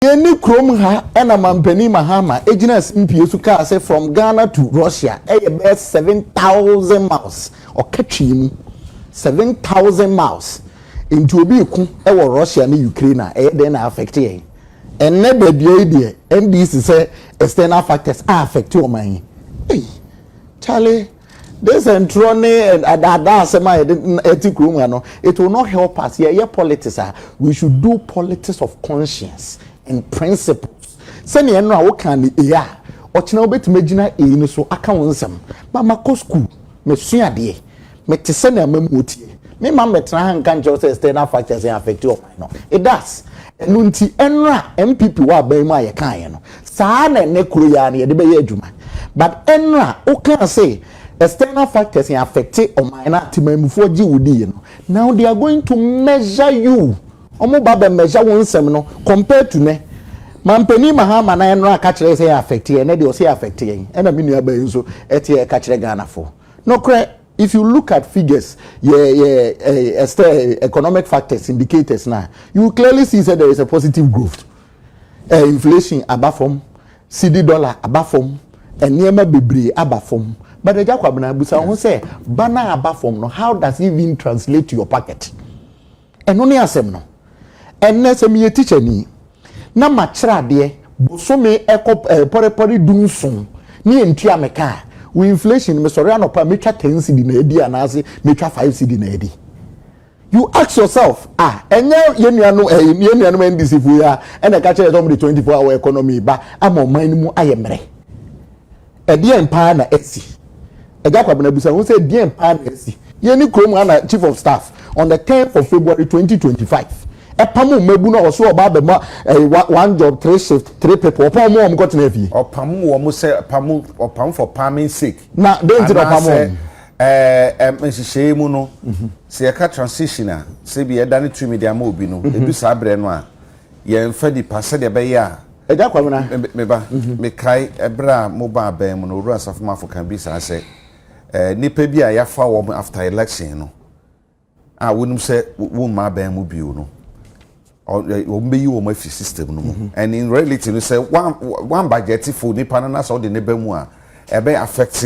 Yɛn ne kurom ha ɛna Manpanin Mahama gyinaa simpie so kaa sɛ from Ghana to Russia ɛyɛ bɛyɛ seven thousand miles, ɔka twii mu, seven thousand miles, nti obi reko wɔ Russia ne Ukraine a ɛyɛ dɛn na affect yɛn? Ɛnnɛ da dua yi deɛ NDC sɛ external factors a affect ɔman yi, ei Charlie. Ne nsɛnkyerɛw ne adaadaa asɛm a yɛde ɛte kurom ha no, it will not help us. Yɛyɛ politics a, we should do politics of conscience and principles. Sɛnea ɛno a woka ne A a, ɔkyena wobɛtumi agyina A no so aka wo nsɛm. Ma makɔ sukuu, masua adeɛ, mete sɛnea amammuo teɛ. Me ma mmɛtena ha nka nkyerɛ wo sɛ external factors affect ɔman no. It does. Ɛno nti, ɛno a MPP wɔ aban mu a yɛkaeɛ no, Saa na ɛnnɛ kuro yi ara na yɛde bɛyɛ adwuma but ɛnora wo kaa se external factors yɛ affecte ɔman no a temanmufoɔ gye wo diiɛ no now they are going to measure you ɔmo ba bɛ measure wo nsɛm no compared to nɛ Manpanin Mahama na ɛnora ka kyerɛ yɛ sɛ yɛ affecte yɛ ɛnɛ deɛ ɔse yɛ affecte yɛn ɛna me nua baa yi nso ɛte yɛ ɛka kyerɛ Ghanafoɔ nokorɛ if you look at figures yɛ yɛ eh, exter- eh, economic factors indicators no a you will clearly see sɛ there is a positive growth Eh, inflation aba fam, cedi dollar aba fam, nneɛma bebree aba fam. But Agya Kwabena, bisa wo ho sɛ, ba no a aba fam no, how does it even translate to your pocket? Ɛno ne asɛm no. Ɛnnɛ sɛ meyɛ teacher ni, na makyerɛ adeɛ bosome ɛkɔ eh, pɔrepɔre du nson ne ɛntua me ka a, wo inflation, mesɔre anɔpa a, mɛtwa 10 cedi na adi anaase mɛtwa 5 cedi na adi. You ask yourself ah ɛnyɛ yɛn nuanom eh, yɛn nuanom NDC fo yi a ɛna ɛka kyerɛ sɛ wɔn de 24 hour economy ba ama ɔman no mu ayɛ mmerɛ ɛdeɛn paa na ɛsi ɛgya kwabena bisa ho sɛ ɛdeɛn paa na ɛsi yɛn ne kurom ana chief of staff on the 10th of February 2025 ɛpam mmabu no a ɔso ɔba abɛma ɛyɛ one job three shift three people ɔpam wɔn a wɔn kɔtena fie. ɔpam wɔn sɛ pam ɔpam for palming sake na den ti na ɔpam wɔn. Ɛɛ nhyehyɛe mu no, sɛ yɛka transition a, sɛ bi yɛda ne tumi de ama obi no, edu saa berɛ no a, yɛmfa nipa sɛdeɛ ɛbɛyɛ a. Agya Kwamena. Me ba, mekae ɛberɛ a moba abɛn mu no, Owura Asafomafo ka bi saa sɛ, ɛɛ nipa bi a yɛafa wɔn after election no, a wonim sɛ womma aban mu bio no wɔbɛyi wɔn afi system no mu mhm. and in reality no sɛ one budget for nipa no na sɛ ɔde ne ba mu a ɛbɛ affect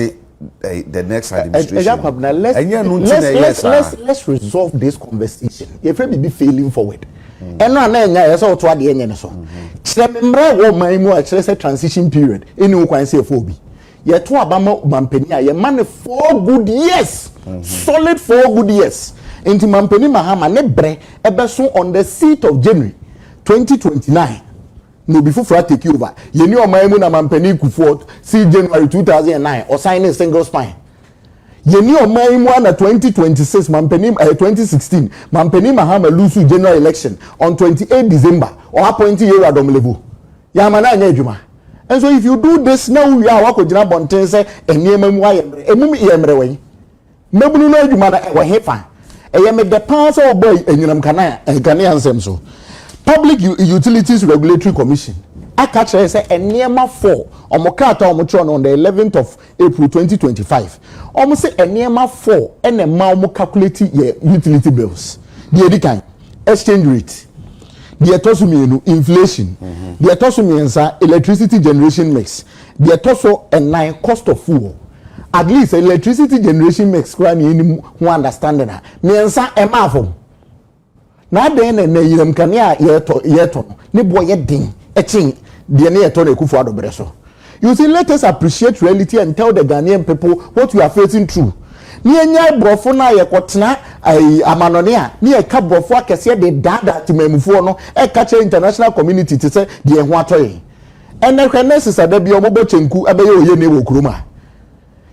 eh, the next eh, eh, administration ɛnyɛ no nti na ɛyɛ saa let's resolve this conversation yɛfrɛ biribi failing forward mm. ɛno a na ɛnya ɛyɛ sɛ ɔto adeɛ nyɛ ne so mm-hmm. kyerɛ me mmerɛ wɔ ɔman mu a kyerɛ sɛ transition period ɛni wo kwan sɛ ɛfɔ obi Yɛto aba ma mampanin a yɛma no four good years mhm. solid four good years nti mampanin mahama ne brɛ ɛbɛso on the seat of january twenty twenty nine na obi foforɔ atake over yɛni ɔman mu na mampanin kufoɔ si january two thousand and nine ɔsan ne single spine yɛni ɔman mu ana twenty twenty six mampanin ɛyɛ eh, twenty sixteen mampanin mahama lusu general election on twenty eight december ɔapɔnti yɛwura dɔm level. Yɛama no anyɛ adwuma. Nso if you do this na wo wie a woakɔ gyina abɔnten sɛ nneɛma mu ayɛ mmerɛ. Emu yɛ mmerɛ wɛn? Mmabunu no adwuma no ɛwɔ he fa? Ɛyɛ me dɛ paa sɛ wɔbɔɔ anyinam nkanea nsɛm so. Public Utilities Regulatory Commission aka akyerɛ yɛn sɛ nneɛma four, wɔn krataa a wɔkyerɛw no on the eleventh of April twenty twenty five, wɔn se nneɛma four na ɛma wɔn calculate yɛ utility bills, deɛ edi kan, exchange rate, deɛ ɛtɔ so mmienu, inflation, mm-hmm. deɛ ɛtɔ so mmiɛnsa, electricity generation mix, deɛ ɛtɔ so nnan, cost of fuel at least electricity generation mix koraa na yɛn mu ho understanding a mmiɛnsa ɛmaa fam. Na adɛn na ɛnnɛ anyinam nkanea a yɛtɔ yɛtɔ no ne boɔ yɛ den kyɛn deɛ na yɛtɔ no Akufo Addo berɛ so? You see, let us appreciate reality and tell the Ghanaian people what we are facing through. Na yɛnyae borɔfo no a yɛkɔtena ɛyi amanɔne a na yɛka borɔfo akɛseɛ de daadaa temanmufoɔ no ɛka kyerɛ international community te sɛ deɛ yɛn ho atɔ yɛn. Ɛnnɛ hwɛ nurses a da biara wɔbɔ kyenku bɛyɛ oyene wɔ kurom a.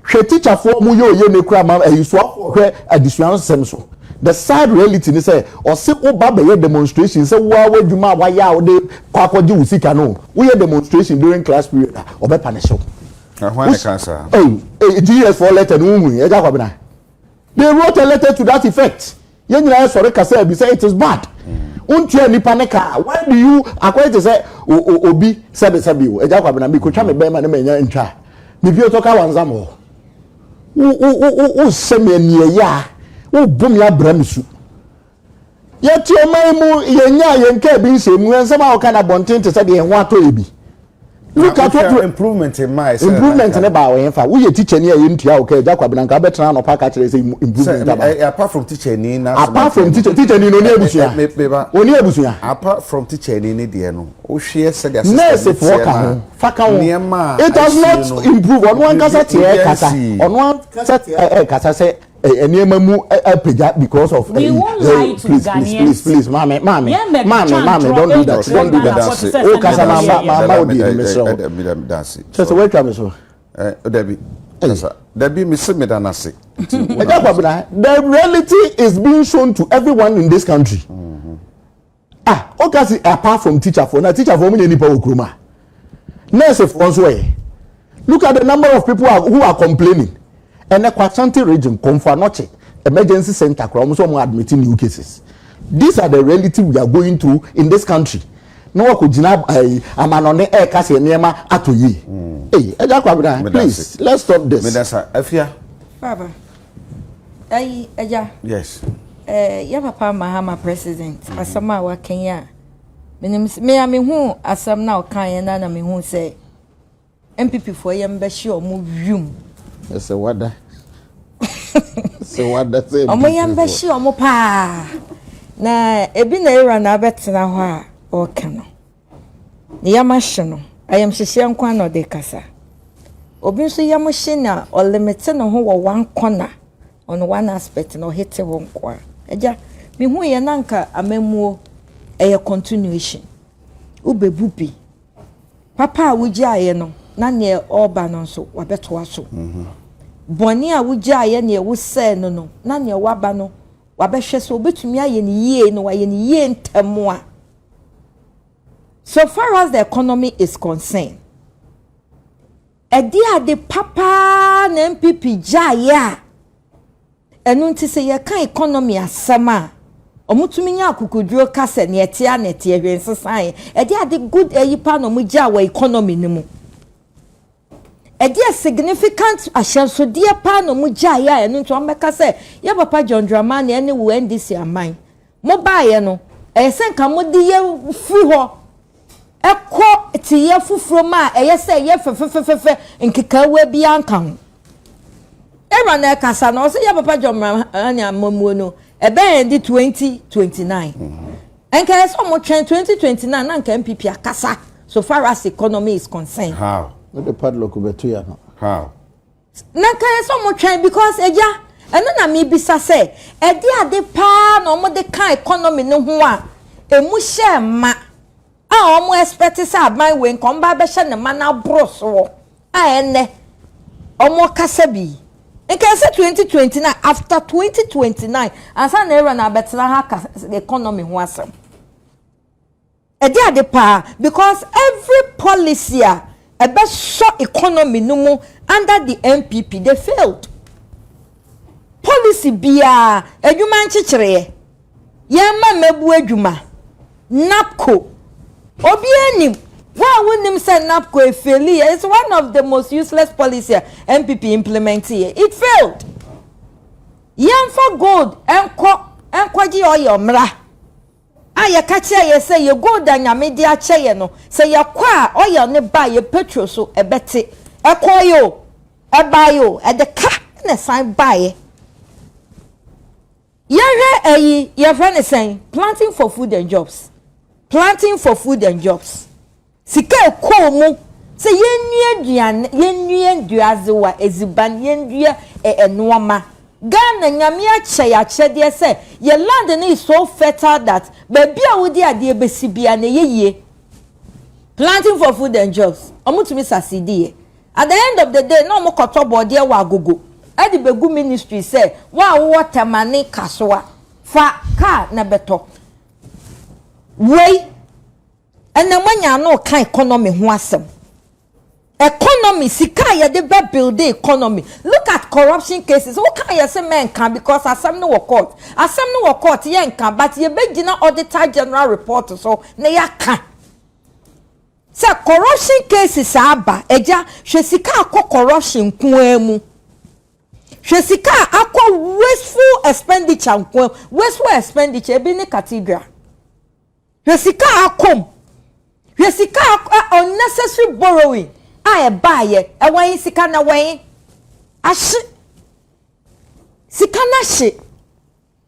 Hwɛ tikyafoɔ ɔmo yɛ oyene koraa ma ayisuafoɔ hwɛ adesua nsɛm so the sad reality ne sɛ ɔse woba bɛyɛ demonstration sɛ woaa w'adwuma a wayɛ a wode kɔ akɔgye wo sika no woyɛ demonstration during class period a ɔbɛ panish wo. Hwan na ɛkaa saa? Ei, ei, GS foɔ letter no wohui, Agya Kwabena? They wrote a letter to that effect. Yɛn nyinaa yɛ sɔre kasaa bi sɛ it is bad. Wontua hmm. nipa ne kaa. Why do you akɔyɛ te sɛ obi sɛbesɛbe o? Ɛgya kwabena mi kotwa mi bɛrima ne ma nya ntwa. Mi pie tɔ ka wanza mo. Wo wo wo wo sɛ mi ɛni ɛyɛ a wo bo mi abira mi su. Yɛte ɔman yi mu, yɛnyaa yɛn kaa bi nsɛmmu, nsɛm a wɔka no abɔnten te sɛ deɛ yɛn ho atɔ yɛ bi. Look at what improvement mmaa ɛsɛ improvement ne baa wɔn fa woyɛ teacher ni a yɛn tua wo kaa gya kwabena nka abɛtena anɔpa aka kyerɛ sɛ improvement aba eh, apart from teacher ni na apart from teacher teacher ni no ni abusua eh, eh, oni abusua apart from teacher ni ne deɛ no wohwɛ sɛ deɛ nurse foɔ ka ho fa ka ho it has not improve ɔno ankasa teɛ kasa ɔno ankasa teɛ kasa sɛ nneɛma mu apagya because of ɛyi ɛyi please please please please maame maame maame maame don't do that don't do that o kasa ma ma ma ma o di ɛmi sɛ o kyɛ sɛ wɔatwa mi so. dabi kasa dabi mi si mi da na se. ɛgya kwabena the reality is being shown to everyone in this country. Mm. Ah oka se apart from teacher foɔ na teacher foɔ ɔmo nyɛ nipa wɔ kurom a nurse foɔ nso ɛ look at the number of people are, who are complaining ɛnɛ kɔ Ashanti region kɔ Mfanoche emergency center koraa ɔmo sɛ ɔmo admit new cases these are the reality we are going through in this country na wakɔ gyina ɛɛ amanɔne ɛɛka se nneɛma atɔ yie ee ɛgya kɔ abena please let's stop this. Medasa afia. Baba. Ayi, agya. Yes. Eh, yɛ papa Mahama president, mm-hmm. asɛm a wakan yi a, menim sɛ, me a mehu asɛm na ɔkan yɛ na na mehu sɛ MPP foɔ yɛ mbɛhye ɔmo wium. Ɛsɛ wada. Sɛ wada sɛ MPP foɔ. Ɔmo yɛ mbɛhye ɔmo paa. Na ebi na era na abɛtena hɔ a ɔka no. ne yam ahye no, ayamhyehyeɛ nko ara na ɔde rekasa. Obi nso yam hye no a, ɔlimite ne ho wɔ one corner, on one aspect na ɔhete hɔ nko ara. Agya, mehu yɛ na nka amammuo ɛyɛ continuation. Wobɛbu bi. Papa a wogyaeɛ no, na neɛ ɔreba no nso wabɛtoa so. Mhm. Bɔne a wogyaeɛ neɛ wosɛe no no, na neɛ waba no wabɛhwɛ sɛ obɛtumi ayɛ no yie na wayɛ no yie ntɛm a So far as the economy is concerned, ɛde ade papaa na NPP gyaeɛ a ɛno nti sɛ yɛka economy asɛm a wɔtumi nya akokoduro ka sɛ nea ɛteɛ na ɛteɛ hwɛ nsesaeɛ ɛde ade good ayi paa na wɔgyaa wɔ economy no mu. Ɛdeɛ significant ahyɛnsodeɛ paa na ɔmo gyaeɛ a ɛno nti ɔmo bɛka sɛ yɛ papa John Dramani ɛne wo NDC aman mo baeɛ no ɛyɛ sɛ nka mo de yɛ firi hɔ ɛkɔ teyɛ foforo mu a ɛyɛ sɛ ɛyɛ fɛfɛfɛfɛ nkekawaa biara nka ho. Ɛwura na ɛkasa na ɔsɛ yɛ papa John Dramani amamuo no ɛbɛn ɛde 2029. Nka ɛyɛ sɛ ɔmo twɛn twenty twenty nine na nka NPP akasa so far as economy is concerned. How? Wode padlock bɛto yɛ no. How? Na nka ɛyɛ sɛ ɔmo twɛn because agya ɛno na mebisa sɛ ɛde ade paa na ɔmo de ka economy no ho a emu hyɛɛ ma a ɔmo expect sɛ aban wei nka ɔmo ba abɛhyɛ ne ma no aboro soɔ. a ɛnnɛ wɔkasa bi yi, nka ɛsɛ 2029, after 2029, ansa na Iran abɛtena ha aka economy ho asɛm. Ɛde ade paa because every policy a ɛbɛsɔ economy no mu under the NPP, they failed. Policy biara, adwuma nkyekyereɛ. Yɛn mma mmabuo adwuma, NABCO. Obiara nim, wo a wonnim sɛ NABCO ɛfeeli yɛ, it's one of the most useless policy a NPP implement yɛ, it failed. Yɛmfa gold nkɔ nkɔgye oil mmra, a yɛka kyerɛ yɛ sɛ yɛ gold a Nyame de akyɛ yɛ no, sɛ yɛkɔ a oil no ba a yɛ petrol so ɛbɛte. Ɛkɔeɛ o, ɛbaeɛ o, ɛde ka na ɛsan baeɛ. Yɛhwɛ ɛyi, yɛfrɛ no sɛn? Planting for food and jobs. Planting for food and jobs. Sika a ɛkɔɔ mu sɛ yɛnnua aduane, yɛnnua nnuadzewa, edziban, yɛndua ɛ, nnoɔma. Ghana, Nyame akyɛ yɛ akyɛdeɛ sɛ yɛ land no is so fertile that baabi a wode adeɛ bɛsi biara no ɛyɛ yie. Planting for food and jobs. Wɔtumi succeed yɛ. At the end of the day na ɔmo kɔtɔ bɔɔdeɛ wɔ agogo de bɛgu ministry sɛ wo a wowɔ Tema ne Kasoa fa car na bɛtɔ. Wei ɛnɛ moanya ano reka economy ho asɛm. Economy, sika a yɛde bɛ build economy. Look at corruption cases, wo ka a yɛse mɛnka because asɛm no wɔ court. Asɛm no wɔ court yɛnka but yɛbɛgyina Auditor General report so na yɛaka. Sɛ corruption cases aba agya hwɛ sika a akɔ corruption nko ara mu. Hwɛ sika a akɔ wasteful expenditure nko ara mu. Wasteful expenditure ebi ne cathedral. Hwɛ sika a akɔ mu. Hwɛ sika a unnecessary borrowing a ɛbaeɛ. Ɛwɔ he sika no ɛwɔ he? Ahye. Sika no ahye.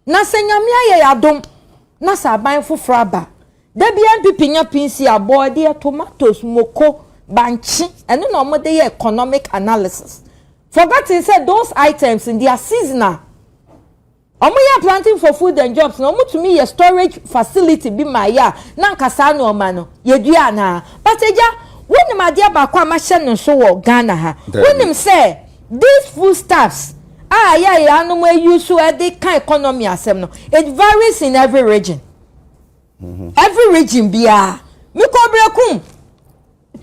Na sɛ Nyame ayɛ yɛ adom na sɛ aban foforɔ aba, da biara npp nya pinsi, abɔɔdeɛ, tomatoes, moko, bankye, ɛno na wɔn de yɛ economic analysis, forgotten sɛ those items no they are seasonal. Wɔn yɛ planting for food and jobs no wɔn tumi yɛ storage facility bi ma yɛ a na nka saa nnoɔma no yɛ dua anaa? But agya, wo nim adeɛ baako a ma hyɛ no nso wɔ Ghana ha, wo nim sɛ. These foodstuffs a yɛ a yɛanom ayi so de ka economy asɛm no, it varies in every region. Mm-hmm. Every region biara. Mekɔ Berekum,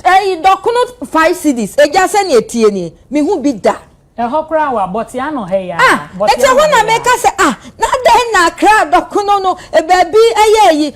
ɛyi eh, dɔkono five cities, egya sɛ nea etie nie, mehu bi da. Ɛhɔ koraa wɔ abɔte ano ha yi a. Ah, ɛkyɛ hɔ na meka sɛ ah, na dɛn na akra dɔkono no, eh, baabi ɛyɛ ayi,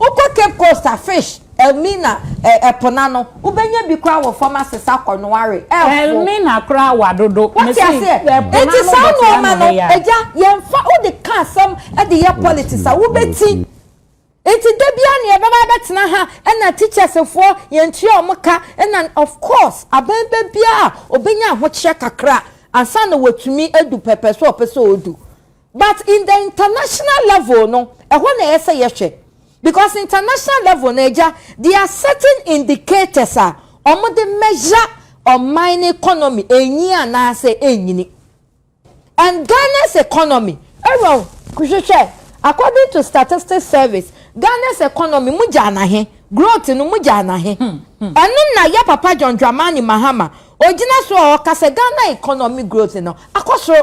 Wokɔ Cape Coast a, fish, Elmina, ɛ, ɛpo no ano. Wobɛnya bi koraa wɔ fam asesa kɔnoa we, ɛfo. Elmina koraa wa dodo. Wote Mese aseɛ? ɛpo no Enti ano saa dɔte nnoɔma ano no, heya. agya, yɛmfa, wode ka asɛm de yɛ politics a, wobɛti. Enti da biara na yɛbɛba abɛtena ha, ɛna teachers foɔ, yɛntua wɔn ka, ɛna, of course, aban ba biara, ɔbɛnya ahokyerɛ kakra ansa na watumi adu pɛpɛ so a ɔpɛ sɛ ɔdu. But in the international level no ɛhɔ na ɛyɛ sɛ yɛhwɛ because international level no agya there are certain indicators a wɔn de measure ɔman no economy enyin anaasɛ enyini and Ghana's economy ɛwɔ hwehwɛ according to statistics service Ghana's economy mu gyaa na he growth no mu gyaa na he ɛno na yɛ papa John Dramani Mahama ogyina so a ɔka sɛ Ghana economy growth no akɔ soro.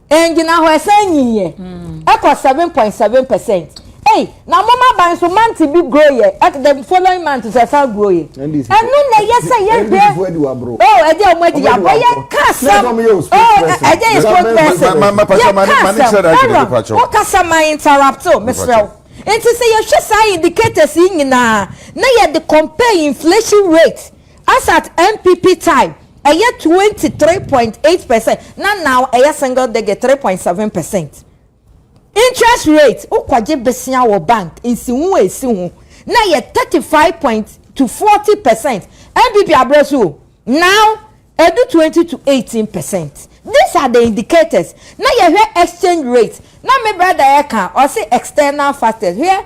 Engyina hɔ ɛsan nyin yɛ ɛkɔ seven point seven percent ei na mom aban so month bi grow yɛ ɛk the following month nso ɛsan grow yɛ ɛno na ɛyɛ sɛ yɛ de oh ɛde ɔmo adi yaboro yɛ ka asɛm oh ɛde yɛ sport person yɛ ka asɛm ɛrɔ wo kasa ma interrupt o mesrɛ wo nti sɛ yɛhwɛ saa indicators yi nyinaa na yɛde compare inflation rate. Asat NPP tie ɛyɛ twenty three point eight percent na now ɛyɛ single digit three point seven percent. Interest rate wo kɔ gye besia wɔ bank nsiho a esi ho na ɛyɛ thirty five point to forty percent NPP abrɛ so o now ɛdu twenty to eighteen percent these are the indicators na yɛhwɛ exchange rate na me brother ɛka ɔse external factors hwɛ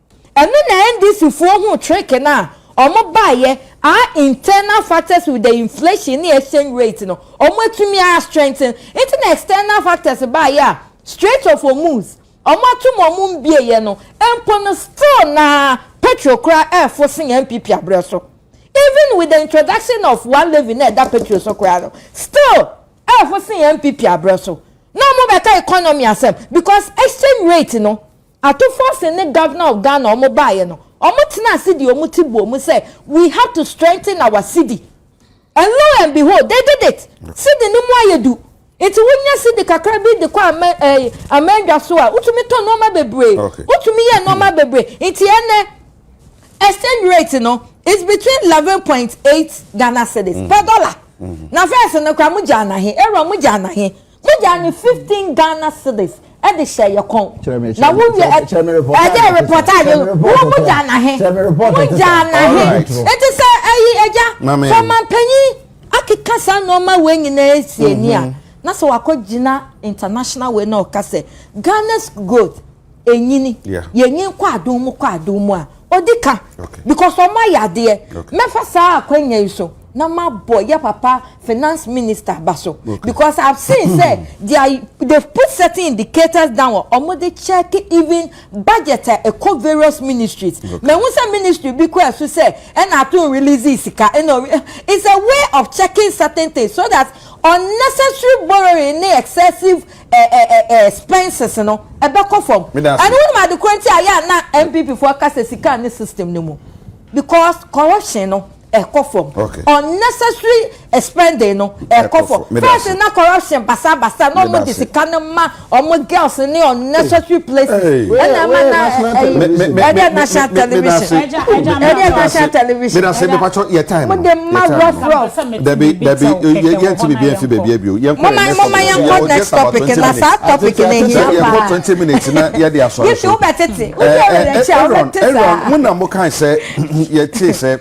Ɛno na NDC foɔ huu trick no a ɔmo baeɛ aa internal factors with the inflation ne exchange rate no ɔmo atumi a strengthen nti na external factors baeɛ a strait of hormuz ɔmo atom ɔmo mbieɛ no mpo no still na petrol kora ɛɛfo sen NPP abrɛ so even with the introduction of one levy na ɛda petrol so kora no still ɛɛfo sen NPP abrɛ so na ɔmo bɛka economy asɛm because exchange rate no Atufforsen ne Governor of Ghana wɔn baeɛ no, wɔn tenaa ase de wɔn ti bɔɔ mu sɛ we have to strengthen our cedi and lo and behold they did it. Cedi no mu ayɛ du nti wonya cedi kakra bi de kɔ ama ɛɛ amandwa so a wotumi tɔ nneɛma bebree, Okay. wotumi yɛ nneɛma bebree nti ɛnɛ exchange rate no is between eleven point eight Ghana cedis per dollar. Na first no koraa mo gyaa no ahe? Aaron mo gyaa no ahe? Wogyaa no fifteen Ghana cedis de hyɛɛ yɛ kɔn. Kyerɛ me, Na kyerɛ me, wowie kyerɛ me, ɛ- kyerɛ me report ɛdɛ a yɛte report so. a Kyerɛ yɛ me report wo a yɛte wogyaa so. no ahe? Kyerɛ me report a yɛte so. Wogyaa no ahe? Alright. Enti sɛ ayi agya Ma me- kɔmanpanyin akeka saa nneɛma wei nyinaa asie ni a na sɛ wakɔgyina international wei na ɔka sɛ Ghana's growth ɛnyini yɛnyini kɔ adom mu kɔ adom mu a ɔdi ka because ɔmo ayɛ adeɛ mɛfa saa akwanya yi so na ma bɔ yɛ papa finance minister ba so because i have seen sɛ they are they put certain indicators down ɔmo de check even budget a ɛkɔ various ministries mɛ n sɛ ministry bi kɔ ɛso sɛ ɛna ato n release sika ɛna eh, it's a way of checking certain things so that unnecessary borrowing ne excessive. Expenses no ɛbɛkɔ fam. And wonim ade koro nti a yɛ a na NPP foɔ ka sɛ sika nni system no mu? Because corruption no ɛkɔ fam. Unnecessary spending no ɛkɔ fam. First na corruption basa basa na wɔde sika no ma wɔn girls ne unnecessary places. Ɛna ɛma na ɛyi ɛdeɛ national television. Ɛdeɛ national television. Mede ma rough rough. dabi dabi yɛnti biribi mfi baabi bio yɛnkɔ yɛn next topic so yɛwɔ just about twenty minutes yɛnkɔ twenty minutes na yɛde asɔre so aaron aaron mo na mo kan sɛ yɛte sɛ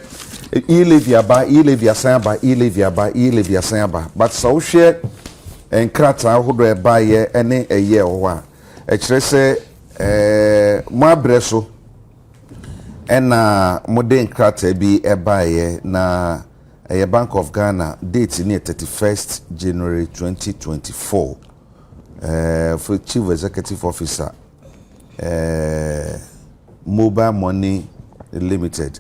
iyi levi aba iyi levi asan aba iyi levi aba iyi levi asan aba but sɛ wohwɛ nkrataa ahodoɔ a ɛbaeɛ ne ɛyɛ wɔ hɔ a ɛkyerɛ sɛ ɛɛ mo abrɛ so ɛna mo de nkrataa bi ɛbaeɛ na. Ɛyɛ Bank of Ghana date no yɛ thirty first January twenty twenty four ɛɛ Chief Executive Officer ɛɛ Mobile Money Limited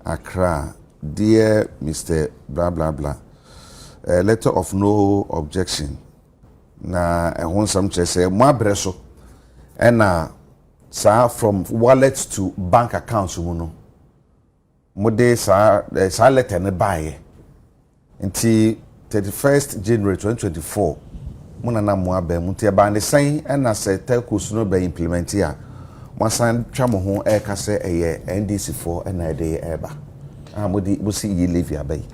Accra dear Mister bla bla bla ɛɛ letter of no objection na ɛho nsɛm kyerɛ sɛ mo abrɛ so ɛna saa from wallet to bank account mu no. Mode saa eh, saa lɛtɛ no baeɛ nti 31st January 2024 mo na na mo abɛn mu nti ɛbaa ne sɛn ɛna sɛ telcos no bɛ implement a mo asan twa mo ho ɛreka sɛ ɛyɛ NDC foɔ ɛna ɛde ɛreba a mode mosi yi levy aba yi.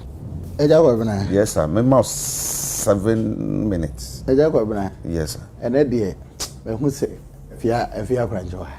Ɛgya Kwabena. Yes sir, me ma seven minutes. Ɛgya Kwabena. Yes sir. Ɛnɛ deɛ, mahu sɛ fia fia korankye wɔ ha.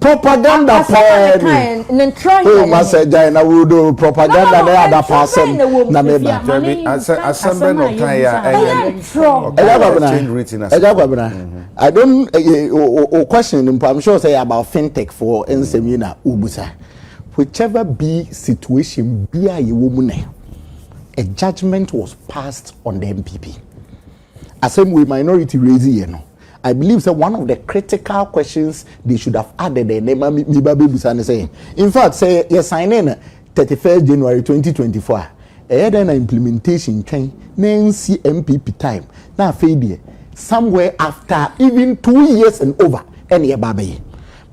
Propaganda pɛɛ ni. Oh masa gyae na wudo propaganda na ada pa asɛm na me ba. Dabi asɛ asɛm bɛ na ɔkan ya ɛyɛ. Ɛyɛ kwabena. Ɛyɛ kwabena. I don't eh, o question mpo I'm sure say about fintech for nsɛm yi na ubusa. Whichever be situation bi a yɛwɔ mu nɛ, a judgment was passed on the MPP. Asɛm wei minority raise yɛ no, I believe sɛ one of the critical questions they should have added ɛnnɛ ma me ba bɛbusa ne sɛ, in fact sɛ yɛ signee no thirty first January twenty twenty four a, ɛyɛ dɛn na implementation twɛn na ɛnsi NPP time na afei deɛ somewhere after even two years and over ɛna yɛba abɛyɛ?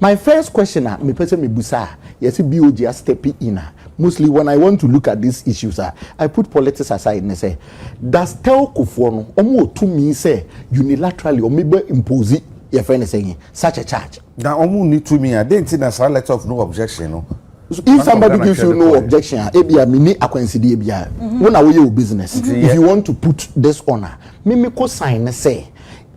My first question a mepɛ sɛ mebusa a yɛse BOG a step in a, mostly when I want to look at these issues a, I put politics aside ne sɛ, Da stelcofoɔ no wɔn wɔ tumi sɛ unilaterally wɔn bɛ impose yɛ fɛ no sɛ nye such a charge. Na wɔn nni tumi a den nti na saa let off no objection no. If somebody gives you no objection a ebia me ni akwansideɛ biara wo na wo yɛ wo business if you want to put this on a me me ko sign ne sɛ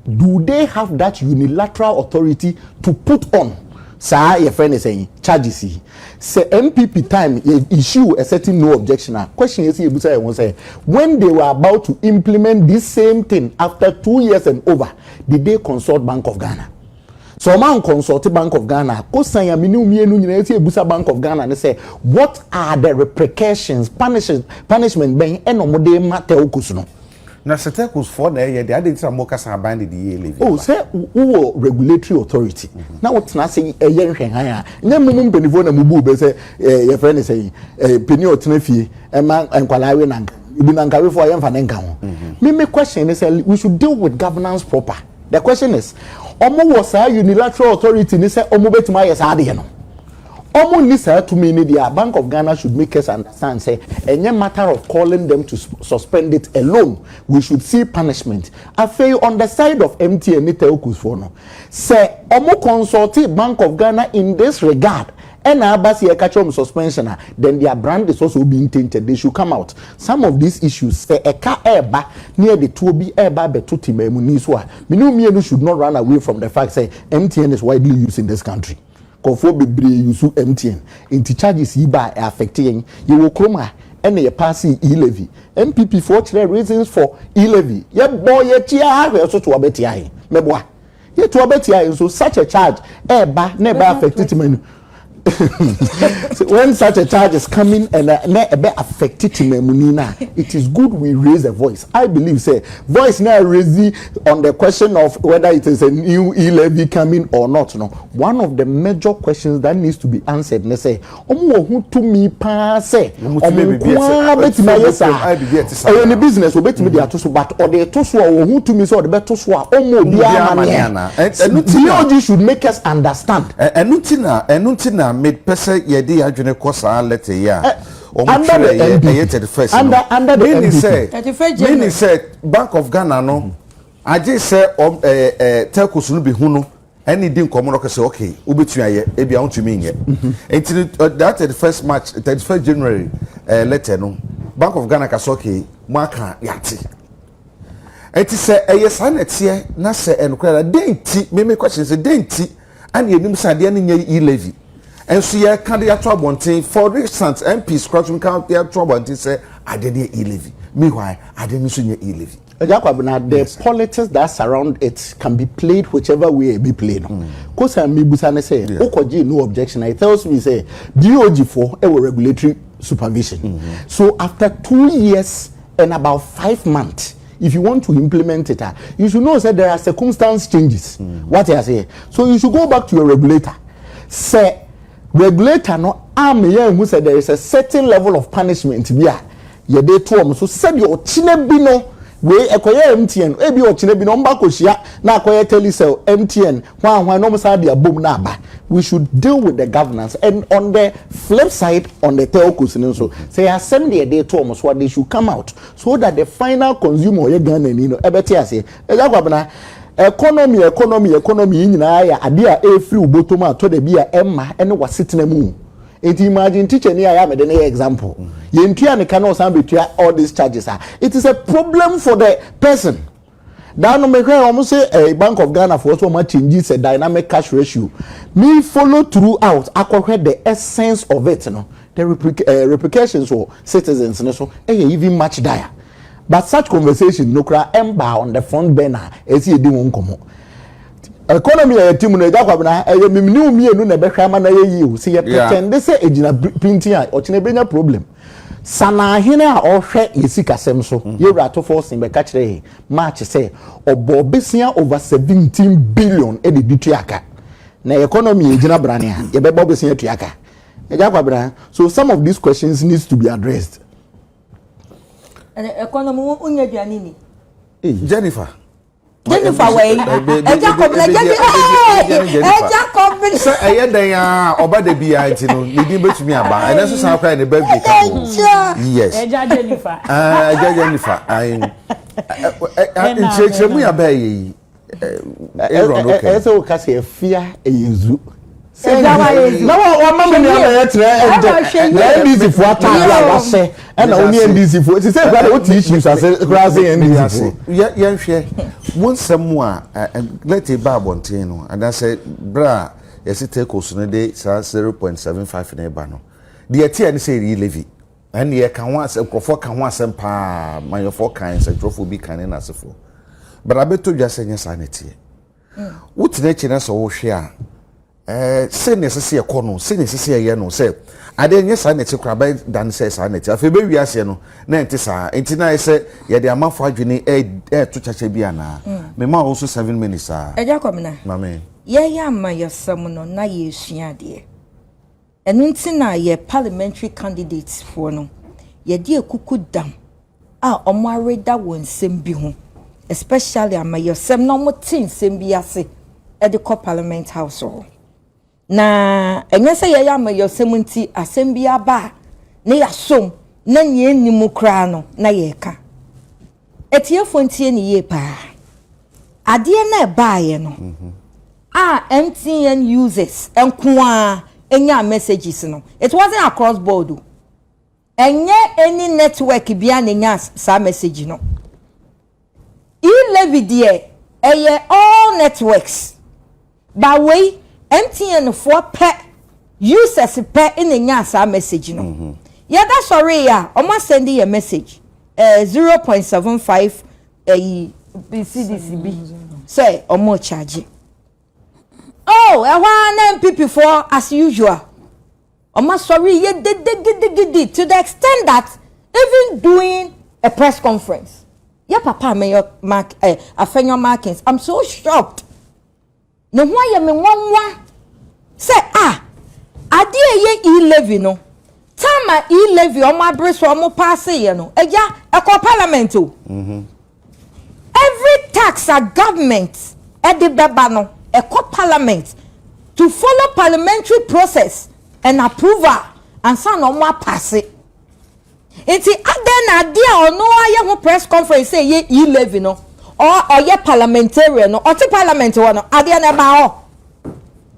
Do they have that unilateral authority to put on saa yɛfrɛ no sɛn charges yi? Sɛ NPP time yɛ issue a certain no objection a, question yɛsɛ yɛbusa yɛn ho sɛ, when they were about to implement this same thing after two years and over, did they consult Bank of Ghana? Sɛ wɔn anconsult Bank of Ghana a, kosan a mene wo mmienu nyinaa yɛsɛ yɛbusa Bank of Ghana ne sɛ, what are the repercussions, punishment bɛn na wɔde ma telcos no? Na Setecos foɔ na ɛyɛ deɛ, adɛn nti na mo kasa aban de deɛ yɛ levy aba? Oh, sɛ wo wɔ regulatory authority na wo tena ase yɛ nhwɛhan a, nyɛ mo mo mpaninfoɔ na mo buu bɛ sɛ eh, yɛ frɛ no sɛn, eh, panin a ɔtena fie ɛma eh, nkwadaa awe na nka ebi na nka awefoɔ a yɛnfa ne nka ho. Mm-hmm. Me me question ne sɛ we should deal with governance proper. The question is, ɔmo wɔ saa unilateral authority ne sɛ ɔmo bɛtumi ayɛ saa adeɛ no? wɔn nni saa tumi no deɛ a, Bank of Ghana should make us understand sɛ ɛnyɛ matter of calling them to suspend it alone, we should see punishment. Afei on the side of MTN ne telcos foɔ no, sɛ wɔn consultee Bank of Ghana in this regard ɛna aba sɛ yɛka kyerɛ wɔn suspension a, then their brand is also being tainted, they should come out. Some of these issues, sɛ ɛka ɛreba na yɛde toɔ bi ɛreba abɛto Temaamuni so a, me ne wo mmienu should not run away from the fact sɛ MTN is widely used in this country. Nkorɔfoɔ bebree use MTN nti charges yi baa ɛ affect yɛn. Yɛwɔ kurom ha ɛna yɛ passee E levy. NPP foɔ kyerɛ reasons for E levy. Yɛ bɔɔ yɛ ti aa hwɛ so to ɔbɛ tia yɛn. Mɛ boa. Yɛ to ɔbɛ tia yɛn so such a charge ɛɛba na ɛbɛ affect ti manu when such a charge is coming and na ɛbɛ affect ti mamuni no a it is good we raise a voice. I believe sɛ voice no a raise On the question of whether it is a new e-levy coming or not no, one of the major questions that needs to be answered ne sɛ, wɔn wɔ ho tumi paa sɛ wɔn nko ara bɛtumi ayɛ saa. Ɛyɛ ne business, ɔbɛtumi de ato so, but ɔde to so a ɔwɔ ho tumi sɛ ɔde bɛto so a ɔmma obiara amanneɛ. BOG should make us understand. Ɛno nti na ɛno nti na mepɛ sɛ yɛde yɛn adwene kɔ saa letter yi a. Under the NPP, under under the NPP. Mini sɛ Bank of Ghana no agye sɛ ɔm ɛɛ ɛɛ telcos no bi hu no ɛne di nkɔmɔ no kɛsɛ okay wobɛtumi ayɛ ebi a wontumi nyɛ nti no that thirty first march thirty first january ɛɛ letter no Bank of Ghana ka sɛ okay mo aka yate. Enti sɛ ɛyɛ saa na ɛteɛ na sɛ ɛyɛ nokorɛ a, dɛn nti, me me question sɛ, dɛn nti ɛna yɛnim sɛ adeɛ no nyɛ yi levy? Nso yɛka de ato abɔnten, for instance, MPs koraa tumi ka de ato abɔnten sɛ adeɛ no yɛ e-levy, meanwhile adeɛ no nso nyɛ e-levy. Agya Kwabena, the yes, politics that surround it can be played whichever way a ɛbɛ play no. Mm. Kosa mebusa ne sɛ, yeah. wokɔgye no objection, it tells me sɛ, BOG foɔ ɛwɔ regulatory supervision. Mm -hmm. So after two years, in about five months if you want to implement it ah you should know say there are circumstance changes mm. what i say so you should go back to your regulator say regulator no am yẹn hu say there is a certain level of punishment bi a yɛde to wɔn so sɛdeɛ ɔkyinɛ bi no wei ɛkɔyɛ mtn ebi ɔkyinɛ bi no ɔmba kɔhyia na akɔyɛ telecell mtn hwan hwan na wɔn san de abom na aba we should deal with the governance and on the flip side on the telcos no nso sɛ yɛ asɛm na yɛde to wɔn so a they should come out so that the final consumer ɔyɛ Ghana ni no ɛbɛte aseɛ ɛgya kwabena economy economy economy yi nyinaa yɛ adeɛ a ɛfiri wo bɔtɔm a tɔ da bi a ɛmma ɛne wasetena mu nti imagine teacher ni a yɛ a mede ne yɛ example yɛntua ne ka na ɔsan bɛtua all these charges a it is a problem for the person Daa no me hwɛɛ wɔn se eh bank of Ghana foɔ so wɔn a change sɛ dynamic cash ratio me follow through out akɔ hwɛ the essence of it no the replic eh replications wɔ citizens no so yɛ even much dire but such conversations no kora ɛmbaa on the front burner ɛsɛ yɛ di ho nkɔmɔ economy a yɛte mu no agya kwabena ɛyɛ mimniw mmienu na ɛbɛhwɛ ama na yɛ yie o se yɛ pretend sɛ ɛgyina pintin a ɔkyena ɛbɛnya problem. Sanahene a ɔhwɛ yɛ sikasɛm so, Yewura Atofɔlsen bɛka kyerɛɛ March sɛ ɔbɔɔ besia over seventeen billion de de tua ka. Na yɛ economy a egyina brane a, yɛbɛbɔ besia atua ka? Agya Kwabena, so some of these questions needs to be addressed. Ɛnɛ economy wo nyɛ aduane ni. Jennifer. Jennifer wɔ yi ɛgya kɔbena ɛgya bi ɛgya kɔbena. sɛ ɛyɛ dɛn a ɔba da bi a nti no ne din bɛtumi aba ɛnɛ nso saa koraa ne birthday ka ho yes ɛgya Jennifer ɛgya Jennifer nkyerɛkyerɛmu yɛ abɛɛyɛ yi ɛsɛ wo ka sɛ afia ɛyɛ zu na wama me nua bɛyɛ kyerɛ ɛnde na ndc fo ataade a wahyɛ ɛna ɔne ndc fo sisɛ kura de wote issues ase kura ase yɛ ndc fo. yɛnhwɛ mo nsɛm mu a lɛte ba abɔnten no anaasɛ berɛ a yɛse tekos no de saa 0.75 no ba no deɛ ɛteɛ ne sɛ ɛyi levy ɛne yɛka ho asɛm nkurɔfoɔ ka ho asɛm paa manyɔfoɔ kan nsɛntwerɛfoɔ bi kan ne n'asefoɔ bɛrɛ abɛtɔ dwa sɛ nyɛ saa na ɛteɛ Wotena akyi na sɛ wohwɛ a, ɛɛ sɛ na ɛsɛ sɛ yɛkɔ no sɛ na ɛsɛ sɛ yɛyɛ no sɛ adeɛ nyɛ saa na ɛte koraa bɛyɛ da no sɛ saa na ɛte afei bɛwie aseɛ no na ɛnte saa nti na ayɛ sɛ yɛde amafo adwene ɛɛto kyakyɛ bi anaa mema wo so seven minutes a. Agya Kwamina, yɛyɛ amayɔsɛm no na yɛresua adeɛ. Ɛno nti na yɛ parliamentary candidates foɔ no, yɛde akuku dam a wɔn areda wɔ nsɛm bi ho, especially amayɔsɛm na wɔn te nsɛm bi ase de kɔ parliament house hɔ. Na ɛnyɛ sɛ yɛyɛ amayɔsɛm nti asɛm bi aba a na yɛasɔ mu na nea ɛnni mu koraa no na yɛreka. Atiefoɔ ntie ne yie paa. Adeɛ no ɛbaeɛ no mhm. a MTN users nko ara ɛnyaa messages no, it wasn't across board o. Ɛnyɛ any network bia na ɛnya saa message no. E-levy deɛ ɛyɛ all networks. Ba wei MTN foɔ pɛ users pɛ na ɛnyaa saa message no. Yɛda sɔree a wɔn asɛndi yɛn message eh, zero point seven five ayi cedis bi sɛ wɔn rekyagye. Oh ɛhɔ ara na NPP foɔ as usual. Wɔn asɔre yɛ dede gidigidi to the extent that even doing a press conference, yɛ papa a meyɛ Mark eh, Afenyo Markins, I'm so shocked. Ne ho ayɛ me nwanwa sɛ ah, adeɛ a ɛyɛ E-levy no, time a E-levy wɔn abere so wɔn paase yɛ no, ɛgya ɛkɔ parliament o. Mm -hmm. Every tax a government de bɛba no ɛkɔ parliament to follow parliamentary process and approval ansa na wɔn apaase. Nti adɛn na adeɛ a ɔno ayɛ ho press conference sɛ ɛyɛ e-levy no ɔyɛ parliamentarian no ɔte parliament hɔ no adeɛ no ɛbaa hɔ.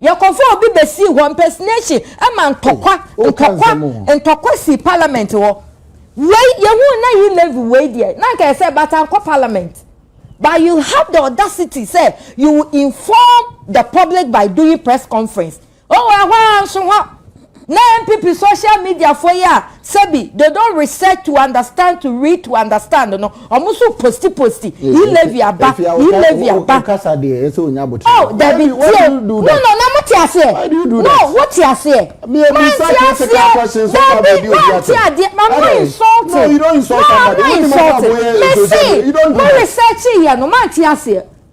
Yɛkɔfa obi bɛsii hɔ, impersonation, ma ntɔkwa, ntɔkwa, ntɔkwa sii parliament hɔ. Wei, yɛhuu na yi level wei deɛ, na anka ɛsɛ but ankɔ parliament. But you have the audacity sɛ you will inform the public by doing press conference. Oh, ɛhɔ ara nso hɔ. Na NPP social media foɔ yi a sɛbi they don't research to understand to read to understand no wɔn nso posti posti E levy aba E levy aba oh dabi tie no no na mo te aseɛ no wo te aseɛ man te aseɛ dabi man te adeɛ I'm not insulting no I'm not insulting me se mo research yɛ no man te aseɛ.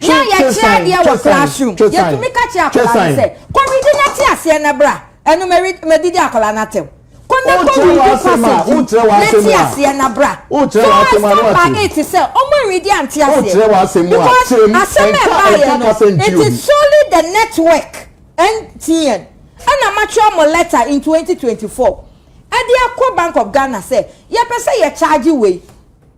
Yɛ a yɛkyerɛ adeɛ wɔ classroom, yɛtumi ka kyerɛ akwadaa no sɛ, Kɔ redi n'ate aseɛ na bra, ɛno mɛdi de akwadaa no atɛm. Kɔ na kɔ redi passage yi n'ate aseɛ na bra. So I stand by it sɛ wɔn anredi ante aseɛ because asɛm a ɛbaeɛ no, it is solely the network, MTN, ɛna matwerɛ mo letter in 2024 ɛde akɔ Bank of Ghana sɛ yɛpɛ sɛ yɛcharge wei.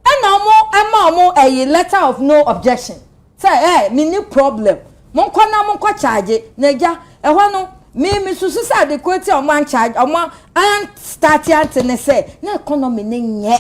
Ɛna ɔmo ɛma ɔmo ɛyi letter of no objection sɛ ɛɛ menni problem monkɔ na monkɔ charge na agya ɛhɔ no me me susu sɛ ade korɔ ti a ɔmo an charge ɔmo an starte ante ne sɛ na economy no nyɛ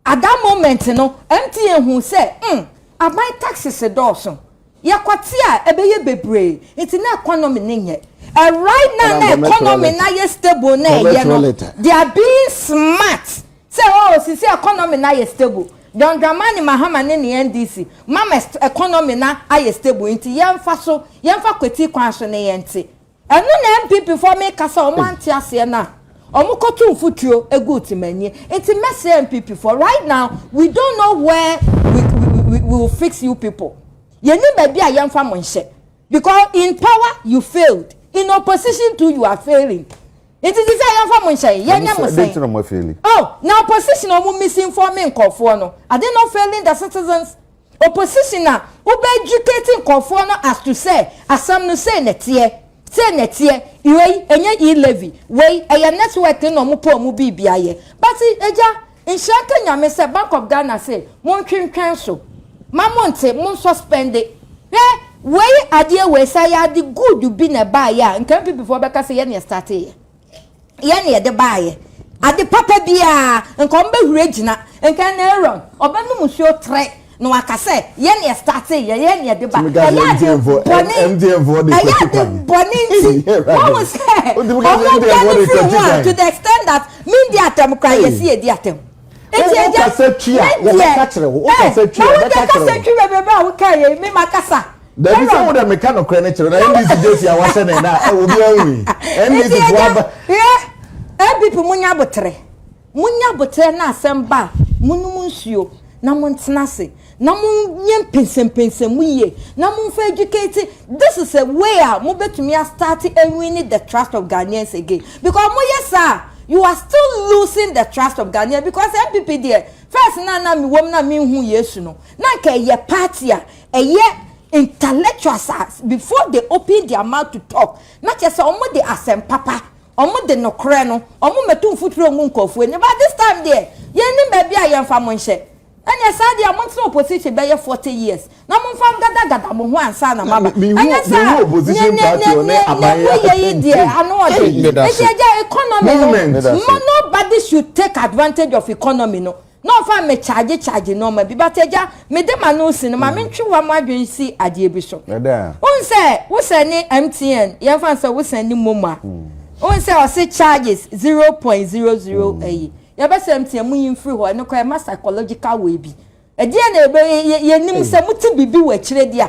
at that moment no MTN huu sɛ hmm aban taxes dɔɔso Yɛkwati a ɛbɛyɛ bebree nti na economy no nyɛ. Right now na economy no ayɛ stable na ɛyɛ no they are being smart sɛ oh sisi economy no ayɛ stable John Dramani Mahama ne ne NDC mama economy no ayɛ stable nti yɛnfa so yɛnfa kwati kwan so ne yɛnte Ɛno na NPP foɔ meka sɛ wɔn ante aseɛ no a wɔn kɔto mfutuo gu Otimanyi nti mɛsrɛ NPP foɔ right now we don't know where we, we, we, we will fix you people yɛnim baabi a yɛmfa mo nhyɛ because in power you failed in opposition too you are failing nti ti sɛ yɛmfa mo nhyɛ yɛnyɛ mo sɛn oh na opposition wɔn misinforming nkɔfoɔ no are they not failing the citizens Opposition a wo bɛ educate nkorɔfoɔ no as to sɛ asɛm no sei na ɛteɛ, sei na ɛteɛ, wei ɛnyɛ E levy, wei ɛyɛ network no na ɔmo pɛ ɔmo biibi ayɛ. But agya, nhyira nka Nyame sɛ Bank of Ghana se montwentwɛn so, ma monte, mo nsuspɛnde. Hwɛ wei adeɛ wei sɛ ayɛ ade good bi na ɛbaeɛ a nka NPP foɔ bɛka sɛ yɛn na yɛ startee yɛ. yɛn na yɛde baeɛ. Ade papa biara, nka wɔn bɛhuri agyina. Nka ɛna Aaron, ɔbɛnom nsuo tre, na waka sɛ, yɛn na yɛstartee, yɛ yɛn na yɛde ba. Ɛyɛ ade bɔne, ɛyɛ ade bɔne nti, wɔn sɛ, wɔn biara ne firi ho a, to the extent that, me di atɛm koraa, yɛsi yɛ di atɛm. Nti ɛgya, me deɛ, ɛɛ, na wo deɛ kasa twi bebrebe a wo kaeɛ yi, me ma kasa. Dabi sɛ wo dɛ meka nokorɛ no kyerɛ na NDC gye fia wasɛ ne na ɛwɔ bi anwi NDC fo aba. Yɛ APP mo nya botere mo nya botere na asɛm ba mo nom nsuo na mo ntena ase na mo nyɛ mpɛnsɛmpɛnsɛm mo yie na mo nfa educate this is a way a mo betumi a start winning the trust of Ghanaians again because mo yɛ saa you are still losing the trust of Ghanaians because NPP deɛ first na na mi wɔm na mi nhu Yesu no na nka ɛyɛ party a Ɛyɛ intellectuals a before they open their mouth to talk na kyerɛ sɛ wɔn de asɛm papa, wɔn de nokorɛ no, wɔn mmɛtu mfuturo ngu nkorɔfoɔ anim but this time deɛ yɛn nnim baabi a yɛn fa mo nhyɛ. Ɛneɛ saa deɛ mo ntena opposition bɛyɛ forty years na mo nfa ngada gada mo ho ansa na mo aba. Ɛnyɛ saa a, neɛ mo yɛ yi deɛ ano ɔden. Nti ɛgya economy no nobody should take advantage of economy no. Na ɔfa me charge charge nnoɔma bi but agya mede m'ano resi no ma mentwe wa mo adwene nsi adeɛ bi so. Wohu sɛ wo sɛne MTN yɛmfa no sɛ wo sɛne momo a wohu sɛ ɔse charges zero point zero zero ayi yɛbɛsɛ MTN monyi mfiri hɔ ɛno koraa ɛma psychological wei bi ɛdeɛ na ɛbɛ yɛnim sɛ mote biribi wɔ akyire deɛ a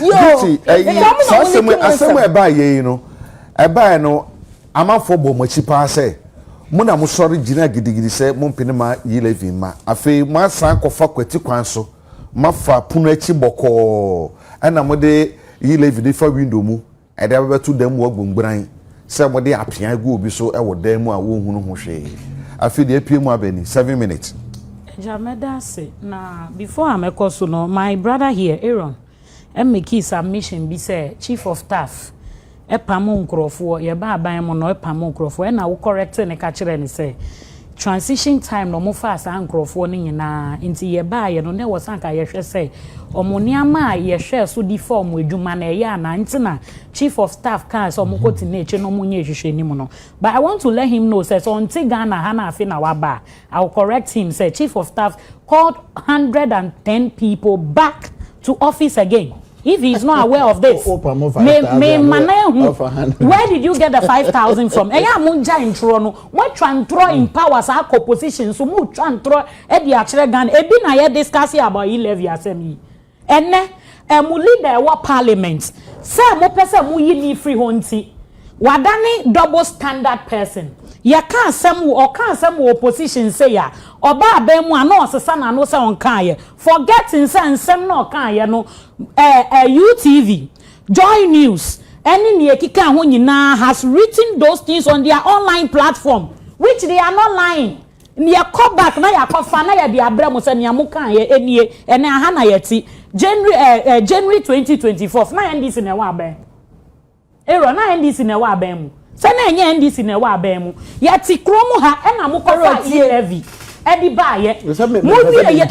Gucci. Asɛm a ɛbaa yɛ yi no, ɛbaa no amanfoɔ bɔ mo akyi paa sɛ mo na mo sɔre gyina gidigidi sɛ mo mpene ma yi levy ma afei mo asan kɔfa kwati kwan so ma fa pono akyi bɔkɔɔ ɛna mo de yi levy de fa window mu Ɛde abɛbɛto dan mu agu mgran sɛ mode apeae gu obi so wɔ dan mu a wonhunu ho hwee. Afei deɛ apue mu abɛ ni, seven minutes. Agya mɛda ase na before a mɛkɔ so no my brother here Aaron makii submission bi sɛ chief of taff pam nkorɔfoɔ yɛba aban mu no pam nkorɔfoɔ ɛna wo correct no ka kyerɛɛ no sɛ Transition time na ɔmo faa saa nkorɔfoɔ no nyinaa nti yɛbaeɛ no na ɛwɔ sɛ anka yɛhwɛ sɛ ɔmo nneɛma a yɛhwɛɛ so de faa ɔmo adwuma no ɛyɛ anaa nti na chief of staff kaa sɛ ɔmo kɔ tena akyire na ɔmo nyɛ nhwehwɛnim no but I want to let him know sɛ sɛ ɔnte Ghana ha na afe na waba a I will correct him sɛ chief of staff called hundred and ten people back to office again if he is not aware of this me me ma no ahu where did you get the five thousand from ɛyɛ a mo ngyae ntorɔ no. Moatwa ntorɔ in power saa kɔ position nso motwa ntorɔ de akyerɛ Ghana ebi na yɛ discuss about E levy asɛm yi ɛnɛ ɛ mo leader ɛwɔ parliament sɛ mopɛ sɛ moyi no firi hɔ nti wadane double standard person yɛka asɛm wɔ ɔka asɛm wɔ opposition sei a ɔba aban mu a na ɔsesa n'ano sɛ ɔnkaayɛ forget nsɛ nsɛm na ɔkaayɛ no ɛ ɛ UTV Joy News, ne nea ɛkeka ho nyinaa has written those things on their online platform, which they are not lying. Yɛkɔ back na yɛakɔfa na yɛde abrɛ mo sɛ nea mokaeɛ nie, ɛnnɛ aha na yɛte. January eh, eh, January 2024, na NDC na ɛwɔ abɛn. Aaron, na NDC na ɛwɔ abɛn mu. Sɛ na ɛnyɛ NDC na ɛwɔ abɛn mu, yɛte kuro mu ha ɛna mo kɔ faa E levy ɛde baayɛ, mo wie yɛ,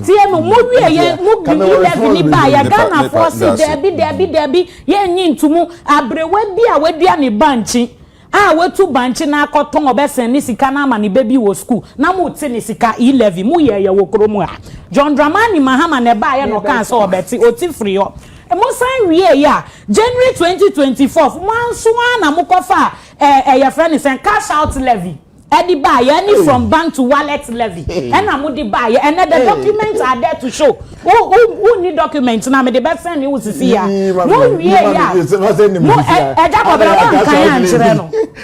tie no, mo wie yɛ, mo de E levy ni baayɛ, Ghana foɔ se dɛbi dɛbi dɛbi yɛn nyi ntumu, abrewa bi a wadua ne bankye, a watu bankye no akɔ tɔn ɔbɛsɛn ne sika no ama ne ba bi wɔ sukuu, na mo te ne sika, E levy, mo yɛɛyɛ wɔ kuro mu ha, John Dramani Mahama na ɛbaayɛ na ɔkaa sɛ ɔbɛte, ɔte firi hɔ. Mo san wieeɛ a January twenty twenty fourth mo nso ara na mo kɔ faa ɛɛ yɛfrɛ no sɛn cash out levy ɛde baeɛ ɛne from bank to wallet levy ɛna mo de baeɛ ɛnɛ the documents are there to show wo wo wo nni document no a mede bɛ send wo sisi yɛ a mo wieeɛ a mo ɛ ɛgya kɔbena mo ankan ankyerɛ no.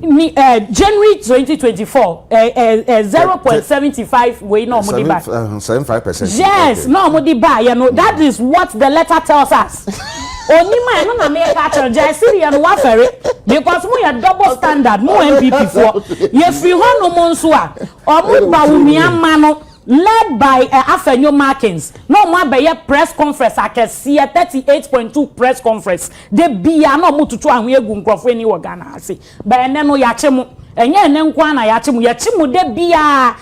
Ni eh, January twenty twenty four eh, eh, eh, zero point seventy five wei na ɔmo de ba. Seven five percent. Yes, na ɔmo de ba yɛ no. That is what the letter tells us. Onim a ɛno na mi ka kyerɛ gya esiri yɛ no wafɛre because mo yɛ double standard mo NPP foɔ yɛ firi hɔ nom nso a ɔmo ba wumia ma no led by uh, eh, Afenyo Markins na ɔmo abɛyɛ press conference akɛseɛ thirty eight point two press conference. Da biara na wɔtoto anhwea gu nkurɔfo ani wɔ Ghana ha sei. But ɛnnɛ no yɛakye mo. Ɛnyɛ ɛnnɛ nko ara na yɛakye mo, yɛkye mo da biara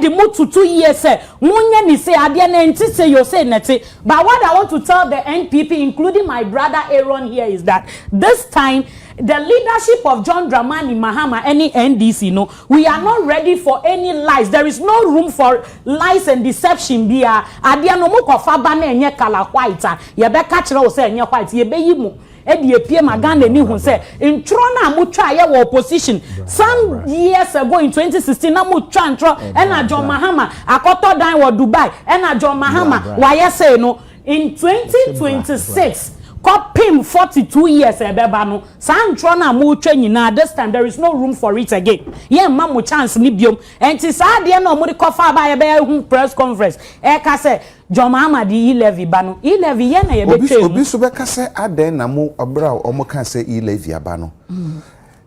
de mo toto yie sɛ monyɛ no sei, adeɛ no ɛnte sei o, sei na ɛte. But what I want to tell the NPP including my brother Aaron here is that this time the leadership of John Dramani Mahama ne NDC no, we are not ready for any lies. There is no room for lies and deception biara. Adeɛ no mokɔfa ba na ɛnyɛ colour white a, Yɛbɛka kyerɛ wo sɛ ɛnyɛ white yɛbɛyi mo de apue ma Ghanani hu sɛ ntwerɔ no a motwaeɛ wɔ opposition some years ago in 2016 na motwa ntwerɔ ɛna John Mahama akɔtɔ dan wɔ Dubai ɛna John Mahama wayɛ sei no in 2026 kɔpem 42 years ɛbɛba no saa ntwerɔ no a motwa nyinaa this time there is no room for it again yɛmma mo chance no biom ɛnti saa adeɛ no a wɔde kɔfa aba a yɛbɛyɛ ho press conference ɛka sɛ John Mahama de e-levy ba no, e-levy yɛn na yɛbɛtwa mu. Obi nso bɛka sɛ, adɛn na mo berɛ a wɔkaa sɛ e-levy aba no,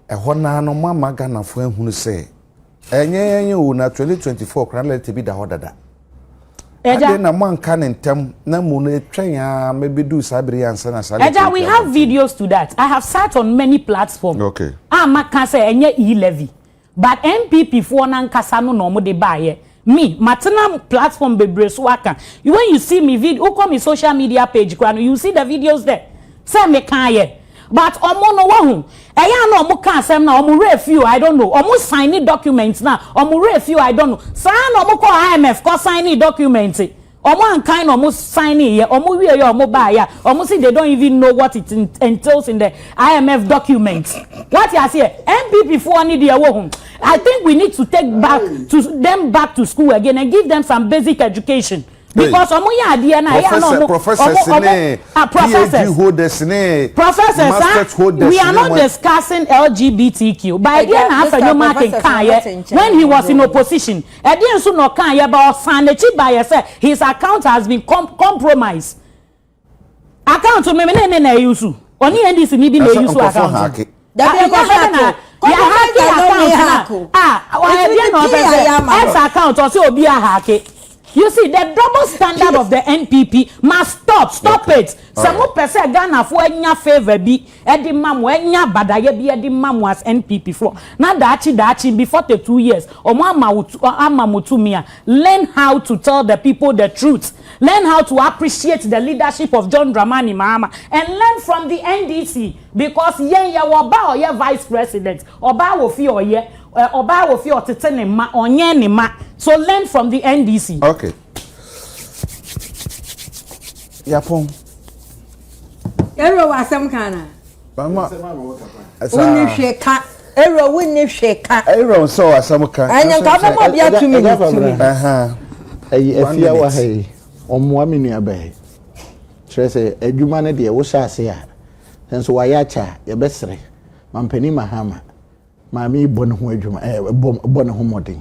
ɛhɔ no ara no moamma Ghanafoɔ anhunu sɛ ɛnyɛ yɛn o, na 2024 koraa na lɛtɛ bi da hɔ dada. Adɛn na moanka no ntɛm na mmom no ɛtwɛn ara ma ɛbɛduu saa berɛ yi ansa na saa lɛtɛ yi aba? Agya, we have videos to that. I have sat on many platforms a maka sɛ ɛnyɛ e-levy. But NPP foɔ no ankasa no na wɔde baeɛ. Me, matena platform bebree so aka. When you see me vid, wokɔ me social media page koraa no, you will see the videos there sɛ mekaeɛ. But wɔn no, wahu, ɛyɛ a na wɔka asɛm no a, wɔn werɛ fi o, I don't know. Wɔn sign documents no a, wɔn werɛ fi o, I don't know. Saa ara na wɔkɔɔ IMF kɔ signee documents. Ɔmo ankan na ɔmo signee yɛ, ɔmo wie yɛ a ɔmo baa yɛ a, ɔmo se they don't even know what it entails in the IMF documents. Wate aseɛ? NPP foɔ ne deɛ wohu, I think we need to take back to them back to school again and give them some basic education. Because ọmụ yɛ adeɛ no a ɛyɛ na ọmụ professors ne ah, PhD holders ne professors ah, masters holders we are not discussing LGBTQ. By the end, after your marking, when he was in opposition. Ɛdeɛn so na ɔkaeɛ but ɔsan n'akyi baeɛ sɛ his account has been compromised. Account no mene ne na ɛyusu. Ɔne NDC ni bi na ɛyusu account no. Dabi ɛnyɛ hake o. Compromised account no nyɛ hake o. Ah, ɛdeɛn na ɔpɛ sɛ ex account ɔsɛ obi ahake. You see the double standard of the NPP must stop, stop it. Sɛ mopɛ sɛ Ghanafoɔ anya favour bi ɛde ma mo ɛnyɛ abadayɛ bi ɛde ma mo as NPP foɔ na daakye daakye in be forty two years ɔmo ama wo ama mo tumi a learn how to tell the people the truth learn how to appreciate the leadership of John Dramani Mahama and learn from the NDC because yɛn yɛ wɔ ɔbaa ɔyɛ vice president ɔbaa wɔ fie ɔyɛ ɔbaa wɔ fie ɔtete ne mma ɔnyɛn ne mma so learn from the NDC. Okay. yapɔn. ɛwura wɔ asɛm kan na. mama ɛsa. wonni hwɛ ka ɛwura wonni hwɛ ka. ɛwura nsɛ wɔ asɛm kan. ɛnyɛ nka bɛ ma bi atumi ne tumi. ɛyi efi awa ha yi ɔmoa mi nua bɛyɛ kyerɛ sɛ adwuma no deɛ wohyɛ ase a nanso wayɛ akyɛ a yɛbɛsrɛ mampanin mahama maame bɔ ne ho adwuma ɛɛ bɔ ne ho mmɔden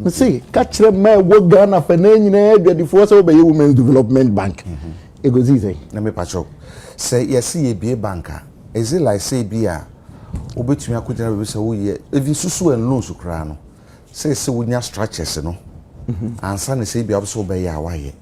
Me se ka kyerɛ mmaa a ɛwɔ Ghana fɛ na nyinaa adwadifoɔ sɛ wobɛyɛ Women's Development Bank. Ɛkɔsi mhm. sɛn? Na mepa kyɛw sɛ yɛse yɛbie bank a, is it like sɛ bi a wobɛtumi akɔgyina baabi sɛ woyɛ even susu and loans koraa no sɛ sɛ wonya structures no mhm. ansa ne sɛ bi a wobɛ sɛ wobɛyɛ a woayɛ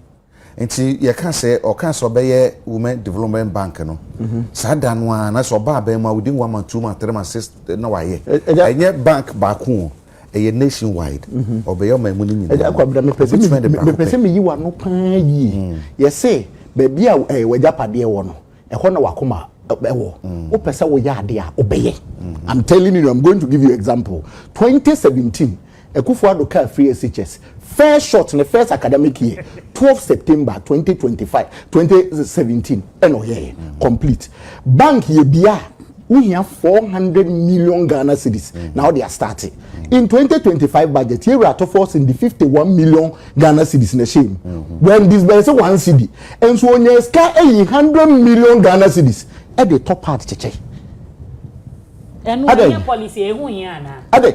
Nti yɛka sɛ ɔka sɛ ɔbɛyɛ Women Development Bank no, mhm. saa da no ara na sɛ ɔba abɛn mu a within one month, two month, three month, six na wayɛ. Ɛnyɛ bank baako o, ɛyɛ nation wide. Mhm. Ɔbɛyɛ ɔman mu no nyinaa. Ɛgya kwabena mepɛ sɛ meyi w'ano paa yie. Mm. Yɛse baabi a eh, w'agyapadeɛ wɔ no, ɛhɔ na wakoma ɛwɔ mm. wopɛ sɛ woyɛ ade a wobɛyɛ mm. i'm telling you i'm going to give you example 2017 Akufo-Addo kaa free SHS first shot no first academic year, twelve September twenty twenty five, twenty seventeen ɛna ɔyɛeɛ, complete. Bank yɛbia a, wohia four hundred million Ghana cedis na wode astarte. In twenty twenty five budget, yɛwura atɔfoɔ se de fifty one million Ghana cedis na ɛhyɛɛ mu. Wɛn disbɛnse one cedi, nso ɔnyaa sika ayi hundred million Ghana cedis de tɔ pad kyekyɛ. Ɛno, ɛnyɛ policy a ɛho hia anaa? Adɛn?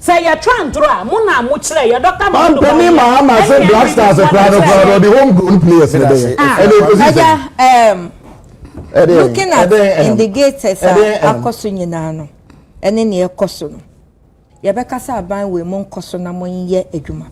Sɛ yɛ twa ndoro a mo na mo kyerɛ yɛ dɔkta mahama no baayɛ ɛne yɛ black stars kura no kura no ɔde home grown players ne bɛyɛ ɛne ekosi sɛ. Ɛdɛ looking at indicators a akɔ so nyinaa no ɛne nea ɛkɔ so no yɛbɛka sɛ aban wei mo nkɔ so na mo nyɛ adwuma.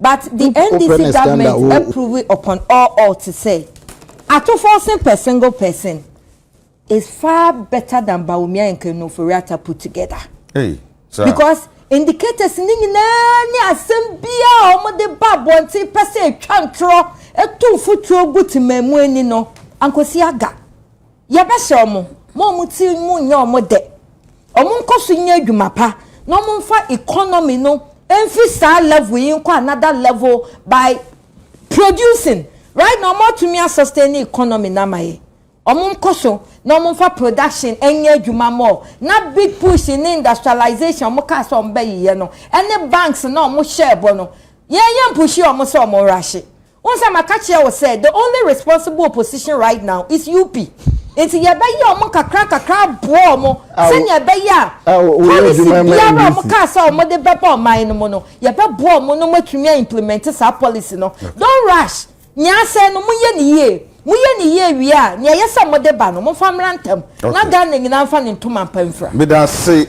But the NDC government approve upon all all te sɛ atoforcing per single person is far better than Bawumia and Kanu Ofori-Atta put together. Hey, sir. Because indicators ni nyinaa ne asɛm bia a wɔde ba abɔnten pɛ sɛ atwa ntorɔ ɛtu mfuturo gu temamu ani no ankosi aga. Yɛbɛhyɛ wɔn ma wɔn ti mu nyɛ wɔn dɛ, wɔn nkɔ so nyɛ adwuma pa, na wɔn mfa economy no mfi saa level yi nkɔ another level by producing. Right now, wɔn atumi a sustain ne economy no ama yɛn. Wɔn nkɔ so na wɔn mfa production nyɛ adwuma more. Na big push ne industrialization wɔn kaa sɛ wɔn bɛyeyɛ no, ɛne banks no a wɔn hyɛɛ bɔ no, yɛn yɛn pushie wɔn sɛ wɔn rushe. Wohu sɛ maka kyerɛ wo sɛ the only responsible opposition right now is UP nti yɛbɛyɛ wɔn nkakrankakra aboa wɔn sɛnea ɛbɛyɛ a policy biara a wɔkaa sɛ wɔde bɛba ɔman no mu no yɛbɛboa wɔn na wɔatumi a implement saa policy no don't rush nea asɛe no moyɛ ne yie moyɛ ne yie wie a nea ɛyɛ sɛ mode ba no momfa mmra ntam na Ghana nyinaa mfa ne ntoma mpa mfira. Medase